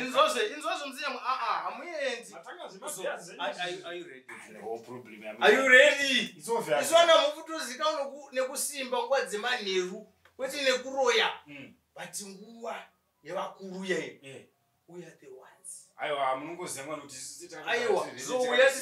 inzozve inzozve muzinyama aa hamuendi izvona mukutozika nekusimba nguva dzemanheru kwete nekuroya hmm. but nguva yevakuru yaiyo eh. uya the ones aiwa munongoziva mwana kuti aiwa